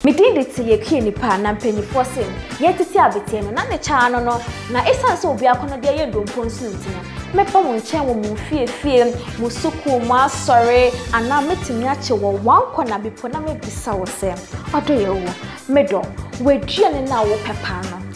Me din de Te Yɛkue Nipa na mpanyifoɔ se yɛtete abeteɛ no na ne kyɛ ano no na esiane sɛ obiako no deɛ yɛ ndompo nso nti no mɛba mo nkyɛn wɔ mo nfiefie, mo sukuu, mo asɔre anaa mɛtumi akye wɔ wankɔ na bipo na mɛbisa wo sɛ ɔdɔ yɛ wo? Medɔ w'aduane no a wopɛ paa no.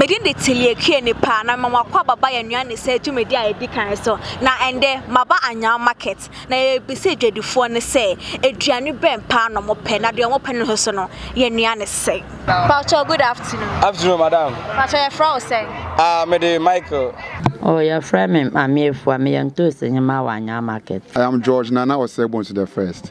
Me din de Tilie Kue-Nipah, na mema mo akwaaba ba yɛn nnuan ne sɛ dwumadi a edi kan so. Na ɛnnɛ, maba Anyao Market, na yɛrebisa adwadifoɔ no sɛ, aduane bɛn paa na wɔpɛ, na deɛ wɔpɛ no nso no, yɛn nnuan ne sɛn? Pakyɛw, good afternoon. Afternoon, madam. Pakyɛw, yɛfrɛ wo sɛn? Ah, me de Michael. Oh, yɛfrɛ me Maame Afua, meyɛ ntoosi hema wɔ Anyao Market. I am George Nana Osei Bonsu the first.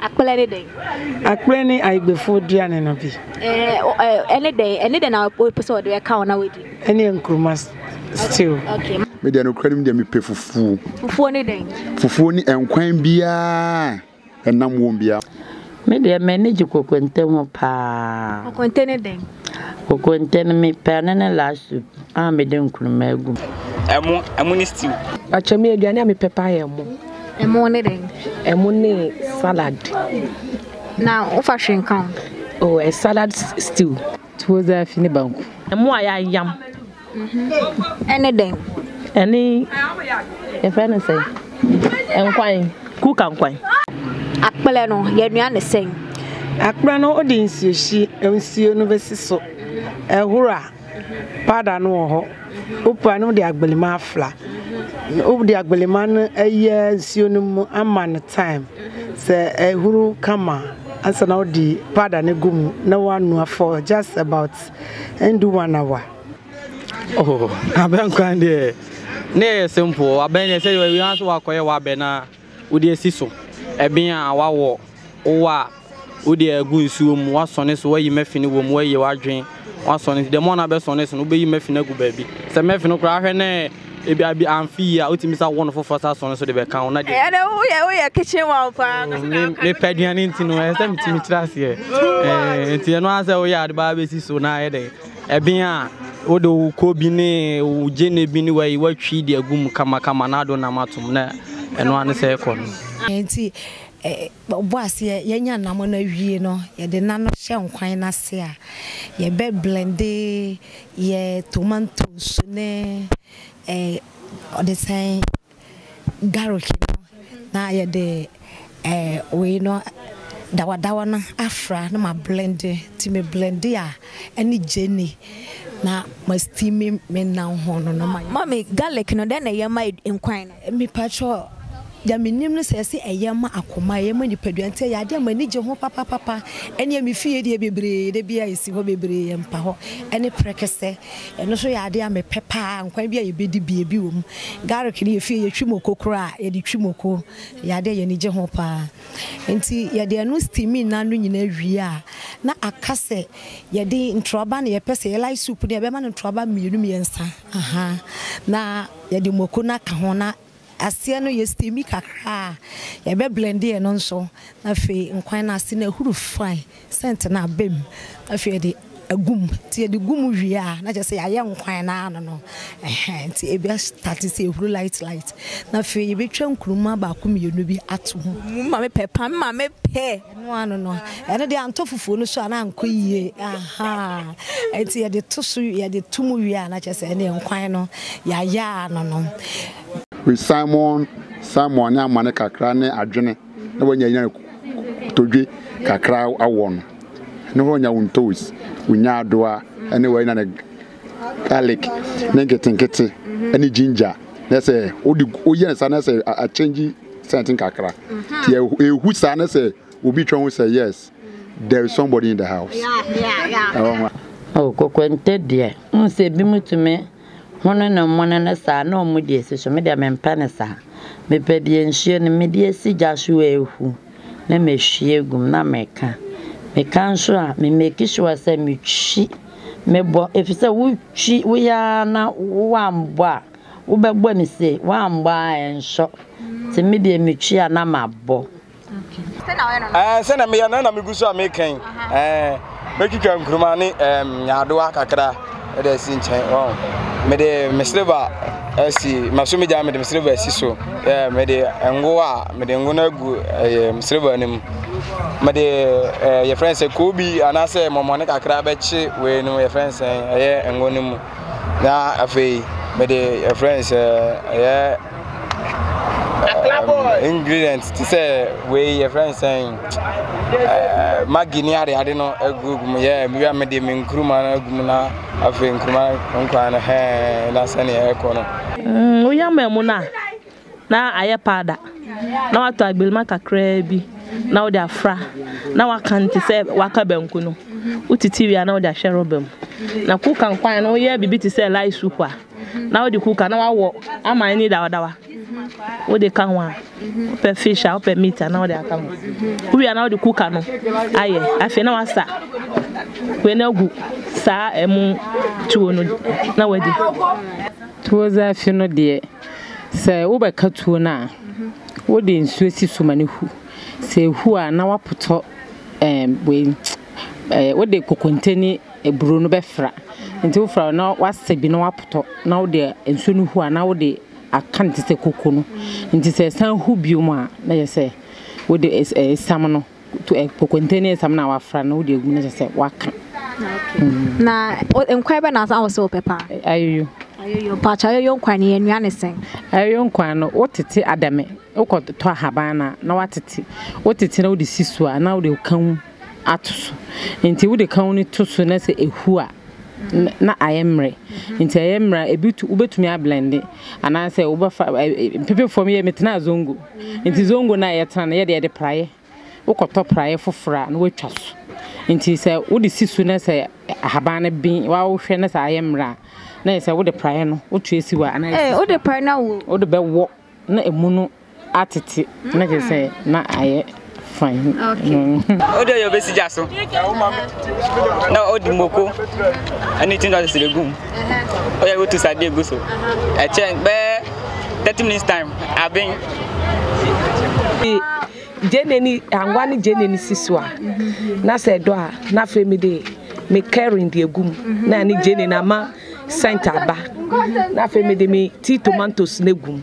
Akplɛ ne dɛn? Akplɛ ne Ayigbefo aduane no bi. Ɛne dɛn? Ɛne dɛn na wopɛ sɛ wɔde bɛka wo na wadi? Ɛne nkuruma stew. Me deɛ nokwarim deɛ mepɛ fufuo. Fufuo ne dɛn? Fufuo ne nkwan biara ɛnam wɔm biara. Me deɛ m'ani gye kokonte ho paa. Kokonte ne dɛn? Kokonte no me pɛ ɛno ne last soup a me de nkruma agu mu. Ɛmo, ɛmo ne stew. Pakyɛ me aduane a me pɛ paa yɛ ɛmo. Ɛmo ne dɛn? Ɛmo ne salad. Na wo fa hwee nka ho? Oh, a salad stew. Tuo zafi ne banku. Ɛmo a yɛayam. ɛne dɛn? Ɛne, yɛfrɛ no sɛn? Nkwan, kuka nkwan. Akplɛ no, yɛnoa no sɛn? Akplɛ no, wode nsuo hye, nsuo no bɛsi so, ɛhoro a, powder no wɔ hɔ, wopira na wode agbelema afra. Wode agbelema no ayɛ nsuo no mu ama no time, sɛ ɛhoro kama a, ansa na wode powder no agu mu na woanoa for just about. ɛndu one hour. Oh, abɛn kwan deɛ ne yɛ yɛ simple abɛn deɛ sɛ yɛ yɛn so wakɔyɛ wabɛn na wode asi so ɛbɛn a wawɔ wowɔ a wode agu nsuo mu wasɔne so wayi mɛfini wɔ mu wayi wadwen wasɔne dɛm ɔna bɛsɔne so no wobɛyi mɛfini agu baabi sɛ mɛfini koraa hwɛ ne Ebia bi amfi yie a, wotumi sa won foforɔ sa sɔn so de bɛka ho na deɛ. Ɛyɛ dɛ woyɛ woyɛ kitchen one paa. Oh, me me pɛ aduane nti no ɛsɛ me tumi kyerɛ aseɛ. Ɛɛ nti ɛno asɛ woyɛ ade baa bɛsi so na ayɛ dɛ ɛbɛn a wode wo kɔ bi ne wo gyene bi ne wayi watwi de agu mu kama kama na ado nam atom na ɛno ano sɛ ɛkɔ no. Nti ɔbɔ aseɛ yɛnya nnamɔ no awie no yɛde nano hyɛ nkwan no ase a yɛbɛ blende Yɛ tomantos ne ɔde sɛn garlic no na yɛde wei no dawadawa no afra na ma blende nti me blende a ɛne gyeene na ma steam me nam ho no. Mummy garlic no dɛn na ɛyɛ ma nkwan no. Mepakyɛ deɛ menim ne sɛ ɛse ɛyɛ ma akoma, ɛyɛ ma nipadua nti ɛyɛ adeɛ a m'ani gye ho papapapa. Ɛneɛ me fie deɛ bebree da biara ɛsi hɔ bebree yɛ mpahɔ ɛne prɛkɛsɛ ɛno nso yɛ adeɛ a mepɛ paa nkwan bi a yɛbɛdi bi ebi wɔ mu. Garlic no yɛ fie yɛtwi moko koraa a yɛde twi moko ɛyɛ adeɛ a y'ani gye ho paa nti yɛde ɛno steaming no ano nyinaa wie a na aka sɛ yɛde ntorɔba na yɛpɛ sɛ yɛ like soup no a yɛbɛma no ntorɔba mmienu mmiɛnsa ahaa na Yɛde mako no aka ho na aseɛ no yɛ steami kakra a, yɛbɛ blɛnde ɛno nso na afei nkwan no ase no ahuru fine, scent no aba mu na afei yɛde agu mu. Nti yɛde gu mu wie a na kyerɛ sɛ yɛayɛ nkwan no ara no no ɛhɛn nti ɛbɛ starte sɛ ɛhuru light light na afei yɛbɛtwa nkruma baako mmienu bi ato mu. Wo maame pɛ paa. Me maame pɛ. Ɛno ara no no, ɛno deɛ antɔ fufuo no so a na ankɔ yie ahaa, nti yɛde to so yɛde to mu wie a na kyerɛ sɛ ɛneɛ nkwan no yɛayɛ ara nonom. With Simon Simon ne amane kakra ne adwene na wanya nya todwe kakra awɔ no ne hɔ nya wo ntoes wo nyaadoa ne w'ayi na ne garlic ne nketenkete ne ginger na sɛ wode woyɛ ne saa na sɛ akyɛngye scent nkakra nti ɛhu saa na sɛ obi twa ho sɛ yes there is somebody in the house oh kokonte deɛ n sɛ ebi mu tumi hono ne mmone no saa na ɔmo deɛ si so me deɛ mempɛ ne saa mepɛ deɛ nsuo no me deɛ si gya so a ehu na mehwie gum na meka meka nso a me make sure sɛ metwi Mebɔ efisɛ wotwi woyɛ ara na woammɔ a wobɛbɔ no sei, woammɔ a ɛnsɔ. Nti me deɛ metwi a na mabɔ. Ɛɛ sɛ na meyɛ na na megu so a mekɛn ɛɛ mɛtwitwa nkuruma ne ɛɛm nyaadoa kakra ɛde asi nkyɛn wɔn mede me silver asi maso me gya mede me silver asi so ɛɛ mede ngo a Mede ngo no agu ɛyɛ silver no mu. Mede ɛɛ yɛfrɛ no sɛ koobi anaasɛ mɔmɔne kakra bɛkye wei no yɛfrɛ no sɛ ɛyɛ ngo no mu. Na afei mede yɛfrɛ no sɛ ɛyɛ um, ingredient te sɛ wei yɛfrɛ no sɛ ɛɛ magi ne ade ade no agu mu. Yɛ mewia mede me nkuruma no agu mu na afei nkuruma nkwan no hɛɛ na sɛnea ɛkɔ no. Mm, woyam amu no a, na ayɛ paada na watɔ agbirima kakraa bi na wode afra na waka no te sɛ waka banku no wotiti wie a na wode ahyɛ rɔba mu na kuka nkwan no woyɛ biribi te sɛ light soup a na wode kuka na wawɔ ama ani dawadawa wode ka ho a wopɛ fish a wopɛ meat a na wode aka ho wowie a na wode kuka no ayɛ afei na wasa wei na agu saa ɛmu tuo no na wadi tuo zafi no deɛ Sɛ wobɛka tuo no a, wode nsuo si so ma no hu. Sɛ ɛhu a, na woapotɔ ɛɛm wei ɛɛ wode kokonte ne aburo no bɛfra. Nti wofra a na woasɛ bi na woapotɔ na wode nsuo no hu a na wode aka no te sɛ koko no. Nti sɛ ɛsan hu bio a na kyerɛ sɛ wode ɛɛ esiam no. to ɛ kokonte ne nsam na wafra na wode agu na kyerɛ sɛ waka. Na nkwan bɛ na asa wɔ sɛ wɔpɛ paa. Ayoyo. Ayoyo paakyɛ ayoyo nkwan ne yɛn ne sɛn. Ayoyo nkwan no wotete adame wokɔ tɔ ahaban na na watete wotete na wode si so a na wode kan ato so nti wode kan no to so na sɛ ehu a na ayɛ mmerɛ nti ayɛ mmerɛ ebi wobɛtumi ablende anaasɛ wobɛfa mpepe fam yɛ metenaa zongo Ntsi zongo no a yɛtsena no, yɛde yɛde praeɛ, wokɔtɔ praeɛ foforɔ a na woatwa so. Ntsi sɛ wode si so na sɛ ahaban no be wo a wohwɛ na sɛ ayɛ mmerɛ a, na ayɛ sɛ wode praeɛ no wotwe si hɔ a anaa ɛsisi hɔ a, wode bɛwɔ na ɛmu no atete na kyerɛ sɛ na ayɛ. Ɔde ɔyɛ ɔbɛsi gya so na ɔde moko ɛne ti na ɔsese bɛgu mu ɔyɛ wotu sade egu so ɛkyɛ bɛɛ thirty minutes time aben. Gyeene ni anwa ne gyeene ni si so a na sɛ ɛdɔ a na afei mi de mi kɛrin de egu mu na ɛne gyeene na ama sɛnt aba na afei mi de mi ti tomantos na egu mu.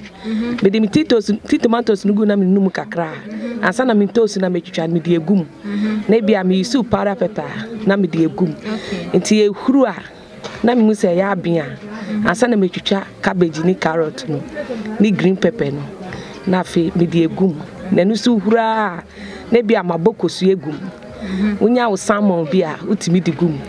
Mede me tea toast, tea tomatoes no gu na menunu mu kakra. Ansa na me toast na metwitwa no mede egu mu. Na ebi a me use powder pepper na mede egu mu. Nti ehuru a na mehu sɛ ɛyɛ aben a ansa na metwitwa cabbage ne carrot no ne green pepper no na afei mede egu mu. Na ɛno so hura a na ebi a mabɔ kosua egu mu. Mhm. Wonya wo salmon bi a wotumi de gu mu.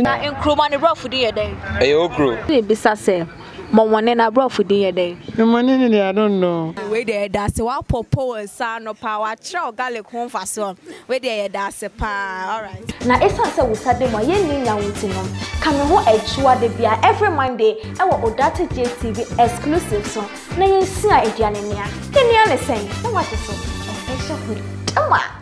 Na nkuruma ne brɔfo de yɛ dɛn? Ɛyɛ okro. Bisa sɛ Mɔmɔne no aborɔfo din yɛ dɛn? Mɔmɔne no deɛ I don't know. Wei deɛ yɛda ase woapɔ poem saa no paa wakyerɛw garlic ho mfasoɔ wei deɛ yɛda ase paa alright. Na ɛsiane sɛ wo sa da mu a yɛnni nya wo nti no, ka me ho Atua da biara every Monday wɔ Odate Gye TV exclusive so na yɛnsua aduane nea. Yɛn nua ne sɛn? Na woate so? Official Hoodie. Dama!